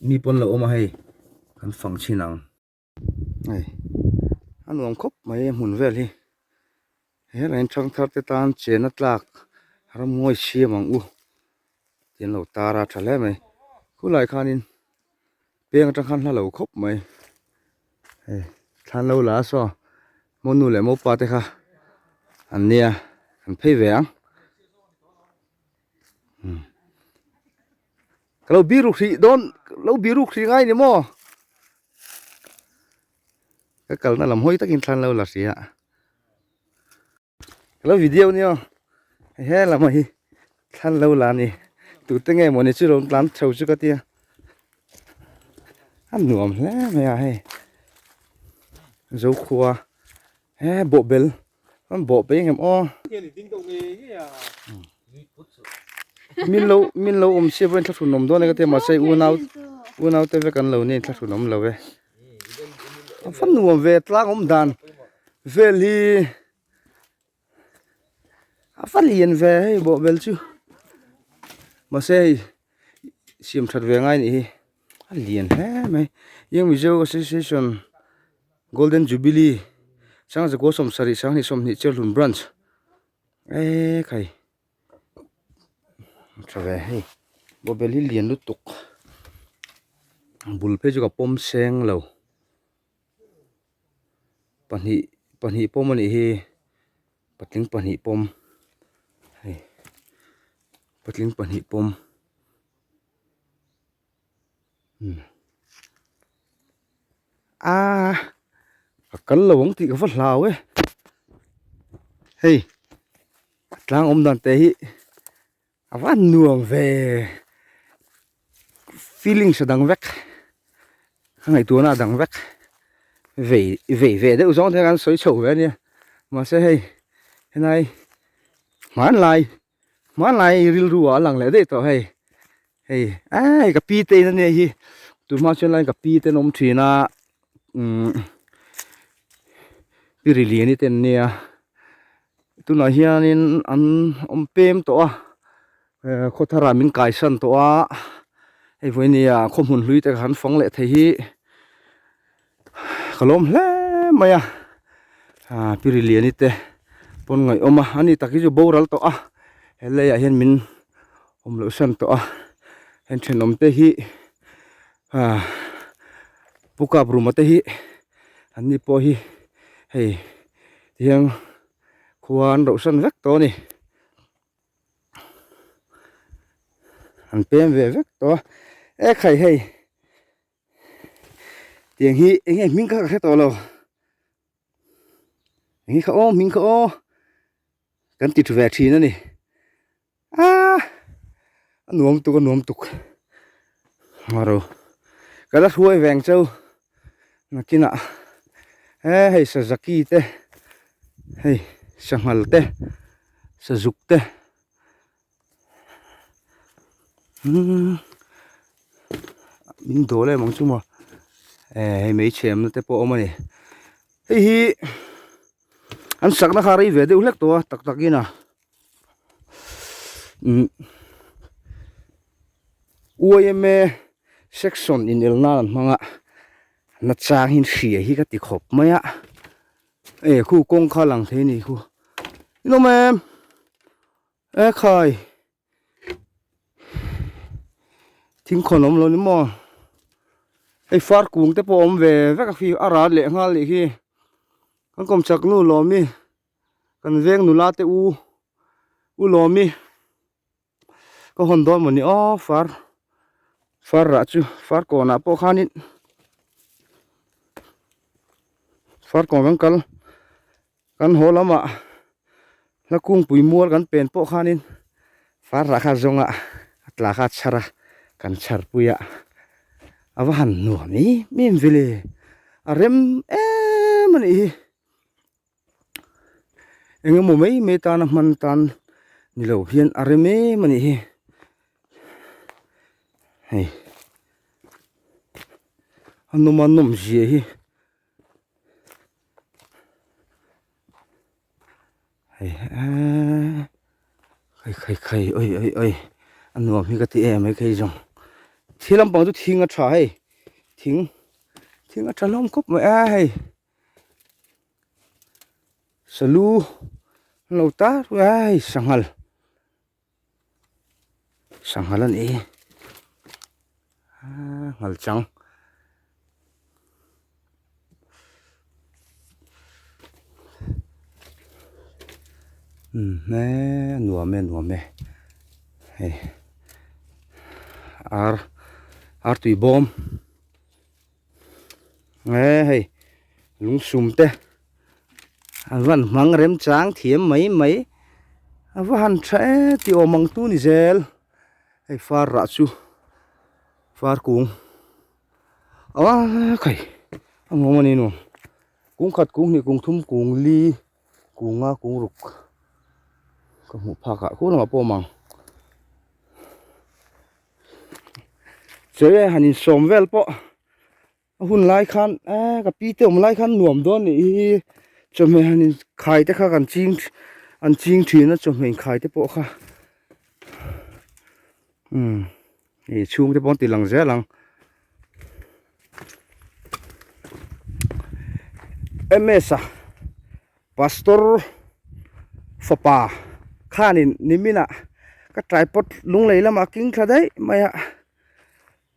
Mi pawn lo awma hei kan fang thin ang. Hei a nuam khawp mai a hmun vel hi helai in thang thar te tan chen a tlak ram ngawi siam ang u tih an lo tar a tha hle mai khulai khan in peng atang khan hla lo khawp mai hei thlan lo la a saw mo nu leh mo pa te kha an nia kan phei ve ang. Ka lo biru hri dawn ka lo biru hri ngai ni maw ka kalna lam hawi takin thlan lo la hri a ka lo video ni aw hei he lama hi thlan lo la ni tute nge maw ni chu rawn tlan chho chu ka tia a nuam hle mai a hei zokhua he bawhbel An bawh peng em aw. Min lo min lo um siam reng thluthun nom dona ka te masai u nau u nau te ve kan lo nen thluthun om lo ve. An fan nuam ve tlang om dan vel hi a fan lian ve hei bawh vel chu masai siam that ve ngai nih hi a lian hle mai eng mizo association. Golden Jubilee Sang Zakua Sawmsarih Sanghnih Sawmhnih Cherhlun Branch eee khai tha ve hei bawbel hi lian lutuk bul phei chu ka pawm seng lo pahnih pahnih pawm a nih hi patling pahnih pawm hei patling pahnih pawm. aa ka kal lo ang tih ka va hlau e hei a tlang awm dan te hi a va nuam ve feelings a dang vek a ngaihtuahna a dang vek vei vei ve deuh zawng te hi a kan sawi chho ve a nia mahse hei helai hmanlai-- Hmanlai rilru ah a lang leh daih tawh hei. Hei ai ka pi te in a nia hi. Tun hma chuan line ka pi te an awm thin a. Umm Pi Riliani te an nia. Tunah hianin an awm pem tawh a. Ehh khawthar ah min kaisan tawh a. Hei vawinia khaw hmun hlui te kan fawng leh thei hi. Ka lawm hle mai a, aa piriliani te pawn ngaih awm a, a ni tak hi chu boral tawh a, he leiah hian min awm loh hran tawh a, heng thenawm te hi aa pu kap ruma te hi an ni pawh hi hei tihian khua an rauh hran vek tawh a ni, an pem ve vek tawh a, ekhai hei. tiang hi eng nge hming kha ka hre tawh lo eng kha aw hming kha aw kan ti thu ve thin a ni a a nuam tuk a nuam tuk maro ka la hruai veng chau nakina he hei sa zaki te hei sa nghal te sa zuk te umm min dawleh mang chu maw eh hei mai thiamna te pawh a awm a ni hei hi an sakna kha a rei ve deuh hlek tawh a tak tak in a umm uaia section inel nan an hmang a nachang in hria hi ka ti khawp mai a eh khu kawng kha a lang thei a ni khu inawm e. Eh khai thing khawn awm lo ni maw hei far kung te pawh awm ve vek a khi a ral leh nghal nih khi kan kawm chak nu lawmi kan veng nula te u u lawmi ka hawn dawn maw ni aw far far rah chu far kawnah pawh khanin far kawn kan kal. Kan haw lama hla kungpui mual kan pen pawh khanin far lah kha zawnga a tla kha chhara kan chharpui a a va han nuam em em vele a rem em a nih hi engemaw mai mai tan a hman tan ni lo hian a rem em a nih hi hei a nawma nawm zia hi Hei eeii khai khai khai awih awih awih a nuam hi ka ti em mai phei zawng thil lampang chu thing a tha hei thing thing a tha hlawm khawp mai a hei salu an lo tar mai a hei sanghal. Sa nghal a ni. Aa nghal chang. Umm he nuam e nuam e. Hei ar ar tui bawm. nge hei lung sum te an rawn hmang rem chang thiam mai mai a va han tha e ti awm ang tu ni zel hei far rah chu far kung aaa khawih a nuam a ni nuam kung khat kung hnih kung thum kung li kung nga kung ruk ka hmuh phak ah khulang ah pawh a awm ang. Chere han insawm vel pawh a hun lai khan eee ka pi te awm lai khan nuam dawn nih hi chawhmeh han inkhai te kha kan ching an ching thin a chawhmeh inkhai te pawh kha hei chhung te pawh an ti lang zel ang ms a. Pastor fapa khanin nimin ah ka tripod lunglei lamah king thla daih mai a,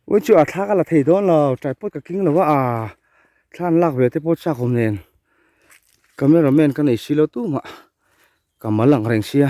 wai chu a thla ka la thei dawn lo tripod ka king lo va a, thla an lak ve te pawh chak awm nen camera man ka nei si lo tumah ka mal ang reng sia.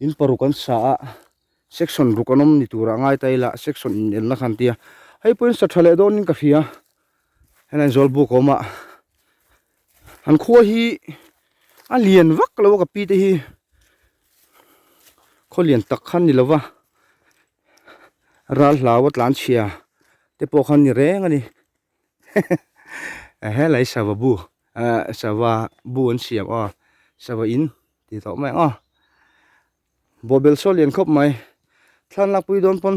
In paruk kan sa a section ruk an awm ni tura ngai ta ila section in elna kha an tia hei pawhin sa tha leh dawn in ka hria hela in zawlbuk a awm a an khua hi a lian vak lo a ka pi te hi khaw lian tak khan ni lo va ral hlau a tlan chhia te pawh khan ni reng a ni he he helai sava bu ahh sava bu an siam aw sava in. ti tawh mai ang a bawbel saw lian khawp mai thlan lakpui dawn pawn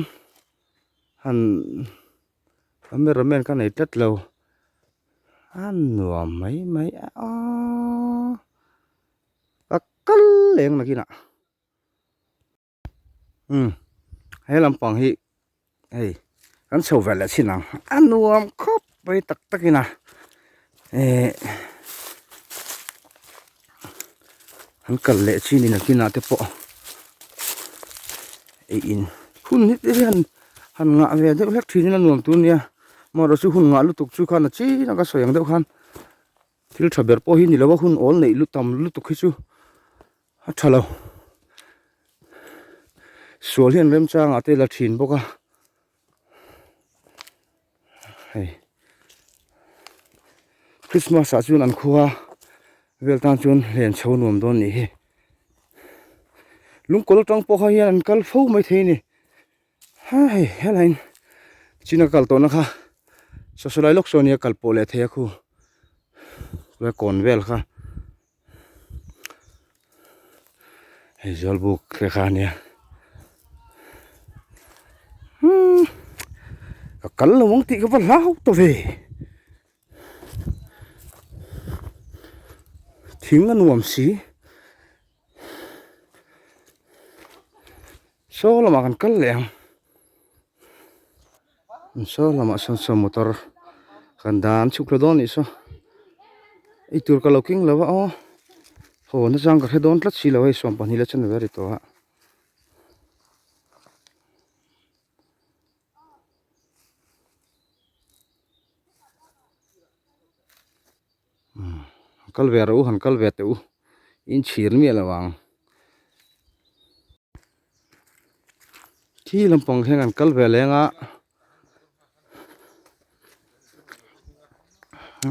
han cameraman ka nei tlat lo a nuam mai mai aaa ka kal leng nakin ah. he lampang hi hei kan chho vel leh chin ang a nuam khawp mai tak tak in a ehh an kal leh chin in a kinah te pawh ei in hun hi te hian han ngah ve deuh hlek thin in a nuam tûr nia mahra chu hun ngah lutuk chu khan a chin anga sawi ang deuh khan thil tha ber pawh hi ni lo a hun âwl neih lut tam lutuk hi chu. a tha lo sual hian remchang ah te la thin bawk a hei christmas ah chuan an khuaa vel tan chuan hlen chho nuam dawn nih hi lungkawl atang pawh kha hian an kal fo mai thei a ni ha hei helai in chin a kal tawh na kha sawi sawi lai lawk saw a nia kal pawh leh thei a khu kawng vel kha. hei zual buk te kha ania ka kal lo mawng tih ka va hlau tawh ve thing a nuam si saw lamah kan kal leh ang. Saw lamah sawn saw motor kan dan chuk hle dawn nih saw eitur ka lo keng lo a aw haw na chang ka hre dawn tlat silo hei sawm pahnih la che nave a ri tawh a. kal ve reuh u han kal ve teh u in chhir miah loh ang khi lampang hian an kal ve leng a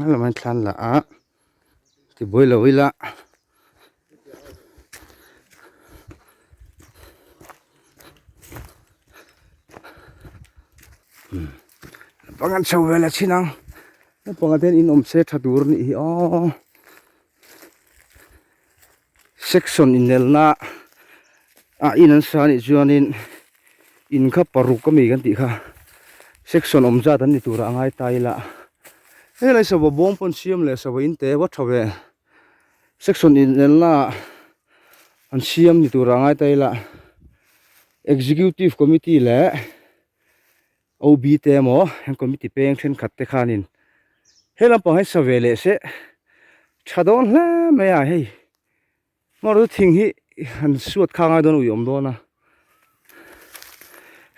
a lam a thlan lah a tibuai lo ila. Naupang an chho ve leh chin ang naupang ah te hian inawm se tha tur a nih hi aww section inelna ah in an sa anih chuanin in kha paruk a mi kan tih kha section awm zat an ni tur a a ngai ta ila helai sava bawm pawn siam leh sava inte vawt tha ve. Section inelnaah an siam ni tura ngai ta ila Executive Committee leh OB te emaw heng committee peng thenkhat te khanin helam pang hian sa ve leh se tha dawn hle mai a hei maru thing hi han suat kha ngai dawn ui awm dawn a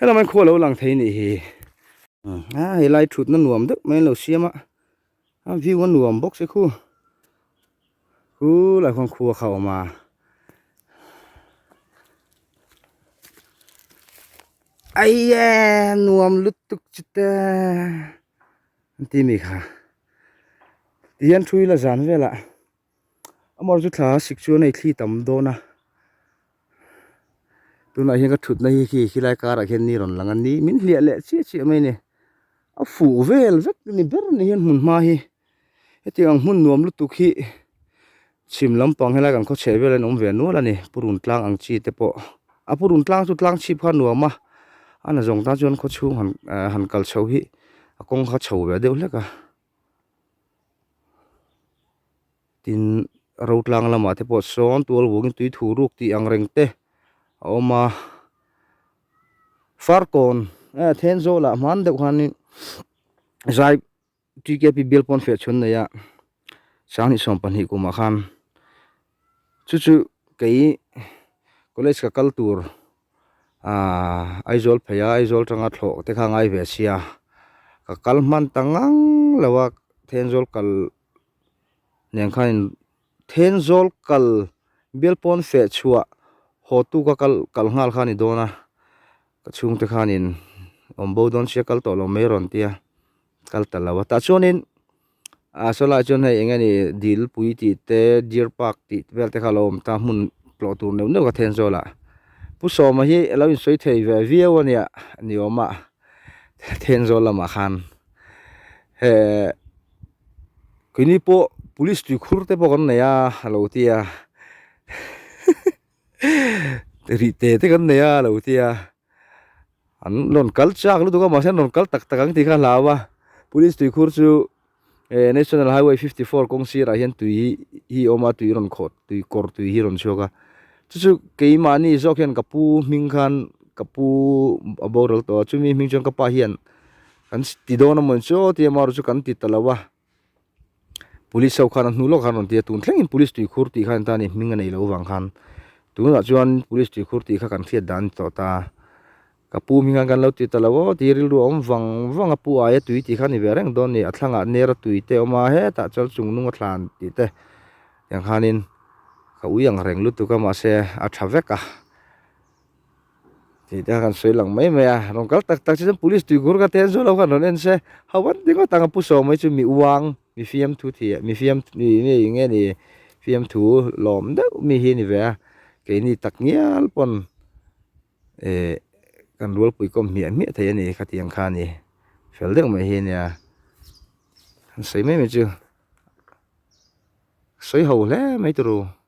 helamain khualo lang thei nih hi a helai thutna nuam deuh mai an lo siam a A view a nuam bawk se khu khu lah khuan khua kha awm a aiya nuam lutuk chuta an ti mi kha tihian thui la zan velah. amaherawh chu thla sik chu a nei thli tam dawn a tunah hian ka thutna hi khi khilai karah khian ni rawn lang a ni min hliah leh chiah chiah mai a ni a fuh vel vek a ni ber a ni hian hmun hma hi hetiang ang hmun nuam lutuk hi chhim lampang helai kan khawchheh vel a awm ve nual a ni purun tlang ang chi te pawh a purun tlang chu tlang chhip kha nuam a a na zawng tan chuan khawchhung han eh han kal chho hi a kawng kha chho ve deuh hlek a. tin rotlang lamah te pawh sawn tual vawngin tui thu ruk tih ang reng te a awm a far kawn e then zawlah hman deuh khanin zai tkp bial pawn fiah chhun neih a sang leh sawm pahnih kumah khan chu chu kei college ka kal tur-- Aaa Aizawl phei a Aizawl tanga thlawh te kha a ngai ve a sia Ka kal hman ta ngang lo a Thenzawl kal nen khan in Thenzawl kal Bialpawn feh chhuah haw tu ka kal kal nghal kha a ni dawn a Ka chhung te khan in awm bo dawn sia kal tawh lo mai a rawn ti a kal ta lo a tah chuan in A sawi lai chuan hei enge ni dilpui tih te deer park tih vel te kha a lo awm ta a hmun tlawh tur neuh neuh a then zawla pu sawma hi a lo insawi thei ve viau a nia ni awm a then zawl lamah khan he keini pawh police tuikhur te pawh kan nei a a lo ti a. rih tê tê kan nei a lo tia an rawn kal chak lutuk a mahse an rawn kal tak tak ang tih kha a hlau a police tuikhur chu eh national highway fifty four kawng sirah hian tui hi a awm a tui rawn khawh tui kawr tui hi a rawn chhuak a chu chu keimahni zawk hian ka pu hming khan ka pu a boral tawh a chumi hming chuan ka pa hian kan ti dawn a mawni chaw tia amaherawhchu kan ti ta lo a. Police ho khan a hnu lawk khan a rawn ti a, tun thlengin Police tui khur tih khan tani hming a nei loh vang khan tunah chuan Police tui khur tih kha kan hriat dan tawh ta, ka pu hming khan kan lo ti ta lo aw tih rilru a awm vang vang a, pu aia tui tih khan i ve reng dawn ni, a thlangah nera tui te awm a, hetah chuan chungnunga thlan tih te tiang khanin ka ui ang reng lutuk a, mahse a tha vek a. Tih te kha kan sawi lang mai mai a, rawn kal tak tak che chuan police tui ghur kha te an zawh loh khan rawn en se, ho vat ringawt ang a pu sawm hi chu mi uang mi fiam thu thih mi fiam ih nge ni fiam thu lawm deuh mi hi a ni ve a, keini tak ngial pawn eh kan rualpui kawm hmiah hmiah theih a ni khati ang kha a ni fel deuh mai hi a nia kan sawi mai mai chu sawi ho hle mai tawh ru.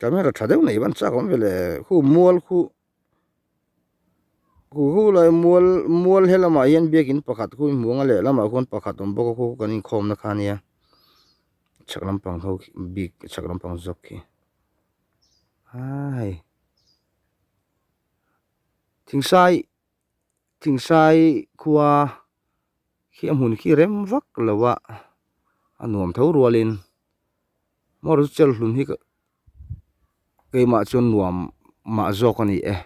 Camera tha deuh mai ban chak awm ve le khu mual khu khu hu lai mual mual helamah hian biakin pakhat khu in hmuang a lehlamah khuan pakhat awm bawk a khu kan inkhawmna kha nia chak lampang ho khi bik chak lampang zawk khi a hei thing sai-- Tlingsai khua khi a hmun khi rem vak lo a, a nuam tho rual in maw ru chel hlun hi keimah chuan nuam mah zawk a ni e.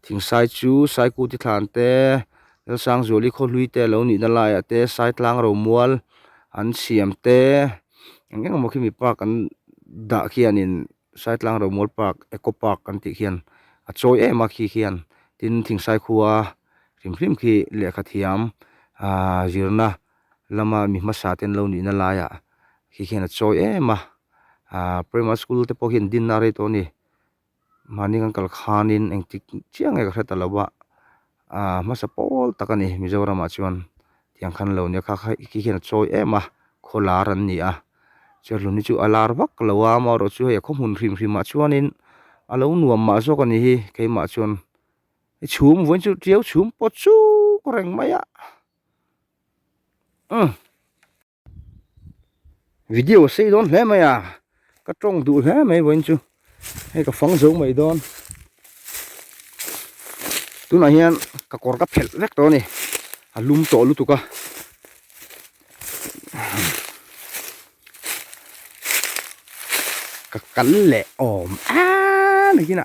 Thingsai chu Saikuti thlan te, Lalsangzuali khawhlui te lo nihna lai ah te Saitlang Romual an siam te eng eng emaw khi mipa kan dah khian in. Saitlang Romual Park, Eco Park kan tih hian a chawi em a khi hian tin thing saikhuaa hrim hrim khi lehkha thiam aaa zirna lama mi hmasa ten lo nihna laia khi hian a chawi em a aaa Primary School te pawh hian dinna a rei tawh a ni mahni kan kal khanin engtik chiang nge ka hre ta lo a. Ahh hmasa pawl tak a ni Mizoramah chuan tiang khan lo nia kha kha khi khian a chawi em a khaw lar an ni a chuan hlun hi chu a lar vak lo a amah erawh chu hei a khaw hmun hrim hrim ah chuanin a lo nuam mah zawk a ni hi keimah chuan i chhum vawiin chu ṭiau chhum pawh chuk reng mai a umm. video a sei dawn hle mai a ka tawng duh hle mai vawiin chu hei ka fang zo mai dawn tunah hian ka kawr ka phelh vek tawh a ni a lum tawh lutuk a ka kal leh awm eeeee nihina.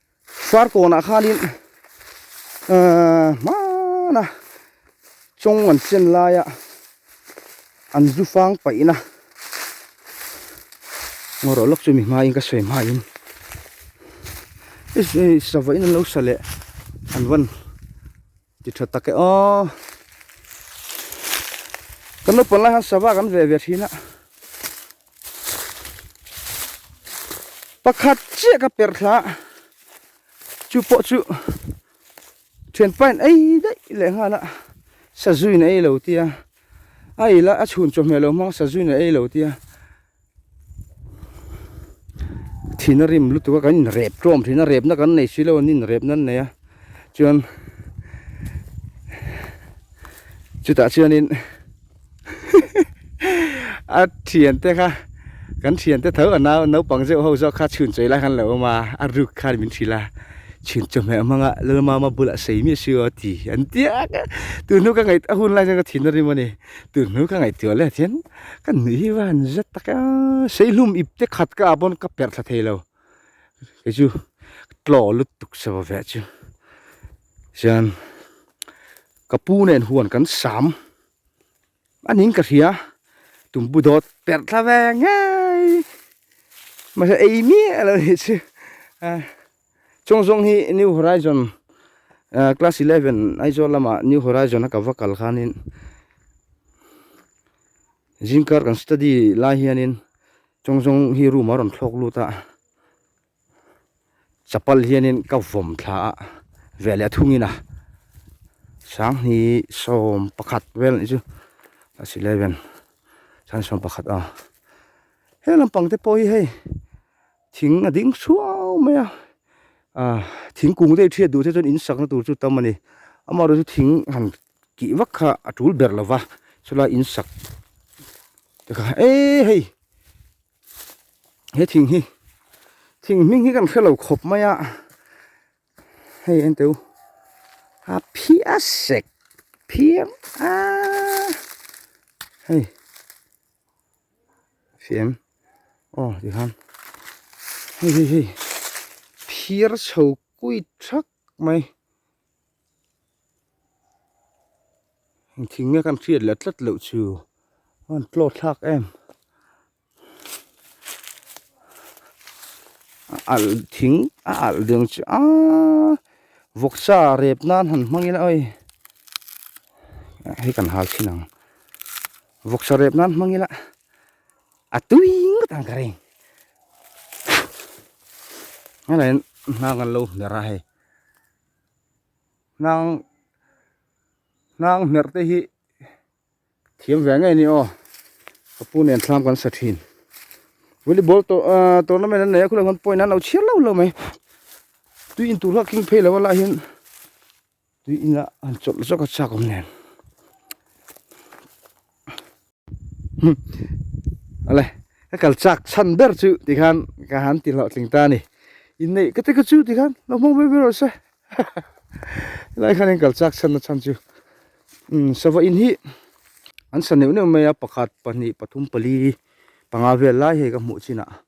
Sar kawn ah khan in hman a chawng an chen lai a an zu fang paih na ngaw rawh lawk chu mi hma in ka sawi hma in sava in an lo sa leh an van Ti tha tak e aw. Kan lo pawlh lai han sava kan ve ve thin a. Pakhat chiah ka per thla. Chu pawh chu thian pain ei daih leh nghal a Sazuin ei lo tia. A ila a chhun chawhmeh lo hmang Sazuin a ei lo tia. thin a rim lutuk a kan in rep tawm thin a repna kan nei silo an in repna an nei a chuan chutah chuanin a thian te kha kan thian te tho a nau naupang zeuh ho zawk kha chhun chawih lai kha an lo awm a a ruk kha min hrilh a chhun chawih hmel hmang a lalmama bulah sei miah si o ti an tia tun hnuk ka ngaih a hun lai chuan ka thin a rim a ni tun hnuk ka ngaihtuah leh a thian. Ka nuih hi van zet tak a seihlum ip te khat ka ah pawn ka perh thla thei lo kei chu tlaw lut tuk sa va ve chu chuan ka pu nen huan kan sam an in ka hria tumpu dawt perh thla ve ngai mahse ei miah lo ni chu a Chhung zawng hi New Horizon uh, Class 11 Aizawl lama New Horizon a ka va kal khanin Zingkar kan study lai hianin Chhung zawng hi room a rawn thlawk lut a Chapal hianin ka vom thla a ve leh thungin a Sang hi som pakhat vel ni chu Class 11 Sang som pakhat a He lampang te pawh hi hei thing a ding suau mai a ah thingkung deuh thiat duh te chuan in sakna tur chu tam a ni amaherawhchu thing han kih vak kha a tul ber lova chulai in sak te kha eee hei he thing hi thing hming hi ka rawn hre lo khawp mai a hei enteu a phiah sek phiang aaa hei. Fiam. Aw, tih khan. Hei, hei, hei. Phiar chho kui thak mai. Thing nge kan hriat leh tlat loh chu. Aw, tlawt thlak em. A al, thing a al deng chu a. Vawk sa rep nan han hmang ila awih. Hei kan hal chin ang. vawk sa rep nan hmang ila a tuiing ka tan ka reng nge lain hnang kan lo hmer a hei hnang hnang hmer te hi thiam ve ngei ni aw ka pu nen thlam kan sa thin volleyball to uh, tournament an nei a khulai hman point an lo chhiar lo lo mai tui in tur hla king phei lo a lah hian tui ina han chawlh zawk a chhuak awm nen hum a le ka kal chak chhan ber chu tih khan ka han ti hlauh tling ta a ni inneih ka te ka chu tih khan lo hmang vel vel rawh se helai khan in kal chak chhan na chhan chu umm sava in hi an sa neuh neuh mai a pakhat pahnih pathum pali panga vel lai hei ka hmuh chin ah.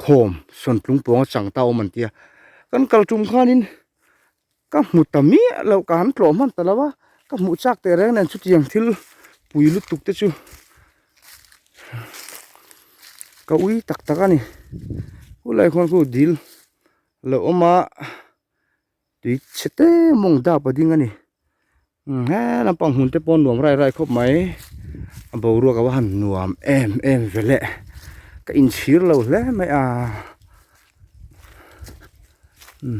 khawm sawn tlung pawng a chang ta awm an tia kan kal tum khan in ka hmu ta miah lo ka han tlawh hman ta lo a ka hmu chak teh reng nen chutiang thil pui lutuk te chu ka ui tak tak a ni khulai khawn khu dil a lo awm a. tui chete mawng dap a ding a ni he lampang hun te pawh nuam rai rai khawp mai a boruak a va han nuam em em ve leh ka in chhir lo hle mai a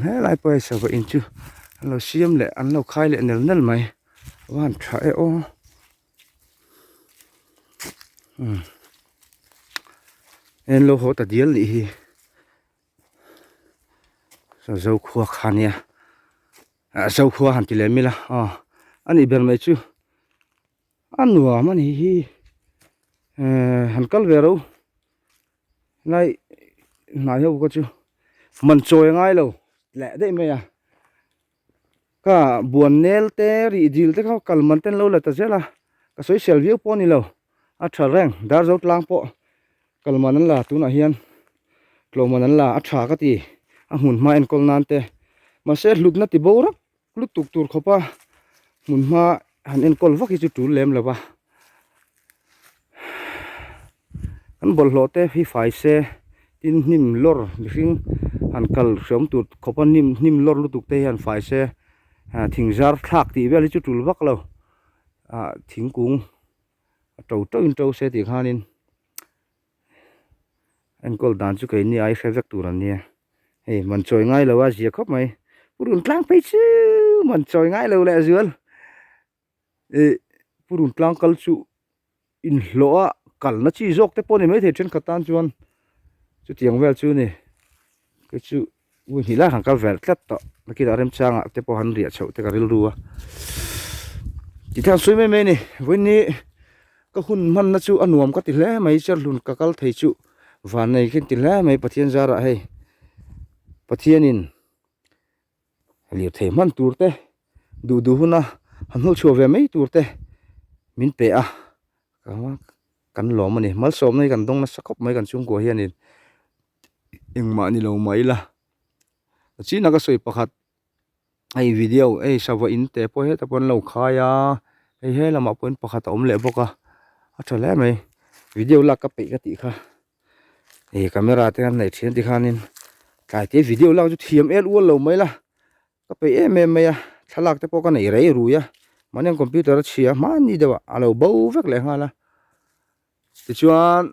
he lai pawh sava in chu an lo siam leh an lo khai leh nel nel mai a va han tha e aw en lo haw ta dial nih hi. Zokhua kha nia ah Zokhua han ti lem ila ah a nih ber mai chu a nuam a nih hi eh han kal ve ro nai hnai ho ka chu man chawi a ngai lo tleh daih mai a. ka buan nel te rih dil te kha kalman ten lo la ta zel a ka soisel viau pawh a ni lo a tha reng dar zo tlang pawh kalman an la tunah hian tlawhman an la a tha ka ti a hmun hma enkawl nan te mahse hlutna ti bo rak lutuk tur khawpa hmun hma han enkawl vak hi chu tul lem lova kan bawlhhlawh te hi fai se tin hnim lawr mihring han kal hriam tut khawpa hnim hnim lawr lutuk te hian fai se ah thing zarthlak tih vel hi chu tul vak lo ah thingkung a to tawh in to se tih khanin. enkawl dan chu kei nge ai hre vek tur an nia hei man chawi ngai lo a zia khawp mai pu rawn tlang phei chiiuu man chawi ngai lo leh zual ih pu rawn tlang kal chu in hlawh a kalna chi zawk te pawh a ni maithei thenkhat tan chuan chutiang vel chu a ni keichu-- Ui hnih lai han kal velh tlat tawh, nakinah remchanga te pawh han riah chhoh te ka rilru a, ti thei an sawi mai mai a ni, vawiini ka hun hmanna chu a nuam ka ti hle mai, Cherhlun ka kal thei chu vannei khin ti hle mai, Pathian zara hei Pathianin lirthei hman tur te, duh duh huna han hnawh chhuah ve mai tur te min pe a, kan lawm a ni, malsawmna hi kan dawng nasa khawp mai kan chhungkua hianin. engmah ni lo mai ila a chinah ka sawi pakhat hei video hei sava in te pawh heta pawh an lo khai a hei he lamah pawhin pakhat a awm leh bawk a a tha hle mai video lak ka peih ka tih kha hei camera te an hnaih thian tih khanin tlai te video lak chu thiam el ual lo mai ila ka peih em em mai a thlalak te pawh ka nei rei rui a mahni ang computer a chhia hmanni deuhah a lo bo vek leh nghal a tichuan.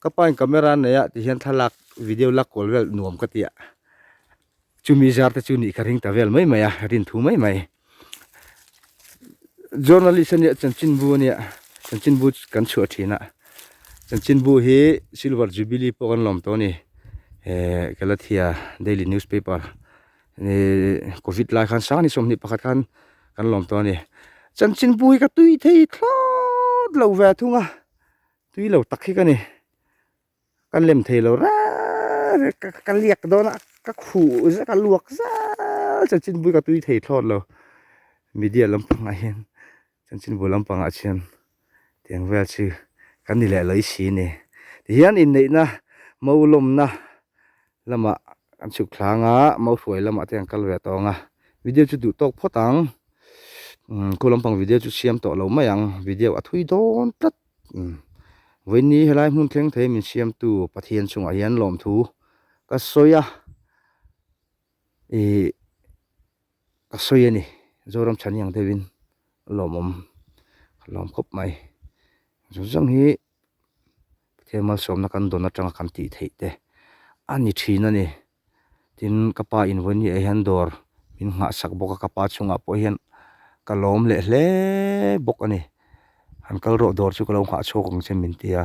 Ka pain camera an neih a ti hian thlalak video lak kual vel nuam ka ti a chumi zar te chu nih ka ring ta vel mai mai a rin thu mai mai journalist ania chanchinbu ania chanchinbu kan chhuah thin a chanchinbu hi silver jubilee pawh kan lawm tawh a ni eh kalathia daily newspaper Hei covid lai khan sang ni sawm hnih pakhat khan kan lawm tawh a ni. Chanchinpui ka tui thei thlawt lo ve thung a. Tui lo tak hi ka ni. Ka lem thei lo rarr ka liak dawn a ka khuh zet a luak zâl chanchinpui ka tui thei thlawt lo. Media lampangah hian Chuan chin bul lampangah chian tiang vel chi kan ni leh lo i si ni. Tihian inneihna mo lawmna lamah kan chhuk thlang a, mo hruai lamah te kan kal ve tawng a. Video chu duh tawk phawt ang. Khu lampang video chu siam tawh lo mai ang. Video a thui dawn tlat. Vawiini helai hmun thleng thei min siamtu Pathian chungah hian lawmthu ka sawi a. Ih ka sawi a ni, Zoram chhan hiang deuh in lawmawm ka lawm khawp mai. Zung zung hi Pathian malsawmna kan dawn atang a kan tih theih te a ni thin a ni. Tin ka pa invawi ni ah hian dawr min nghah sak bawk a, ka pa chung ah pawh hian ka lawm leh hle bawk a ni. Han kal rawh dawr chu ka lo nghah chhuak ang che min ti a.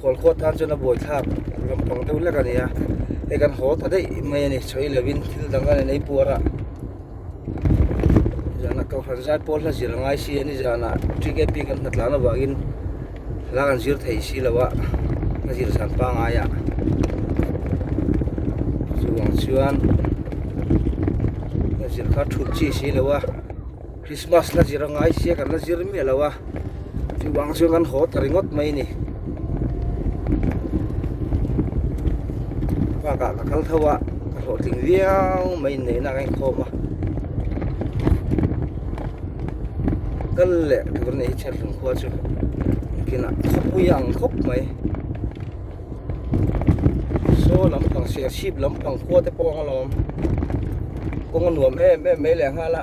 Khawl khuat tan chuan a buaithlak ang lampang deuh lek a nia, hei kan haw ta daih mai a ni chhawi lovin thil dang a nei puar a. Zana Kohhranzai Paul hla zir a ngai si a ni zana TKP kan hna tlan avangin la kan zir thei si lo a, hla zir zan pangai a. Chu ang chuan hla zir kha thut chi si lo a. Krismas la zir a ngai sia kan la zir miah lo a, chu vang chuan kan haw ta ringawt mai a ni. Bakah ka kal tho a, ka hlawhtling viau mai inneihna ka inkhawm a. Kal leh tur ni hi Chherhlum khua chu kinah khawpui a ang khawp mai. Saw lampang Siahsip lampang khua te pawh ang alawm, kawng a nuam em em mai leh nghal a.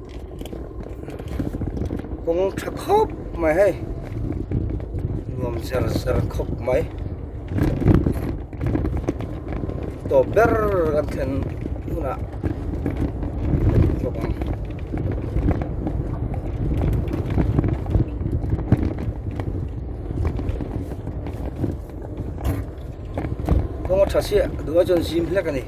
kawng tha khawp mai hei nuam zar zar khawp mai tawp ber kan thlen hunah kawng a tha chiah duh a chuan zim hlek a ni.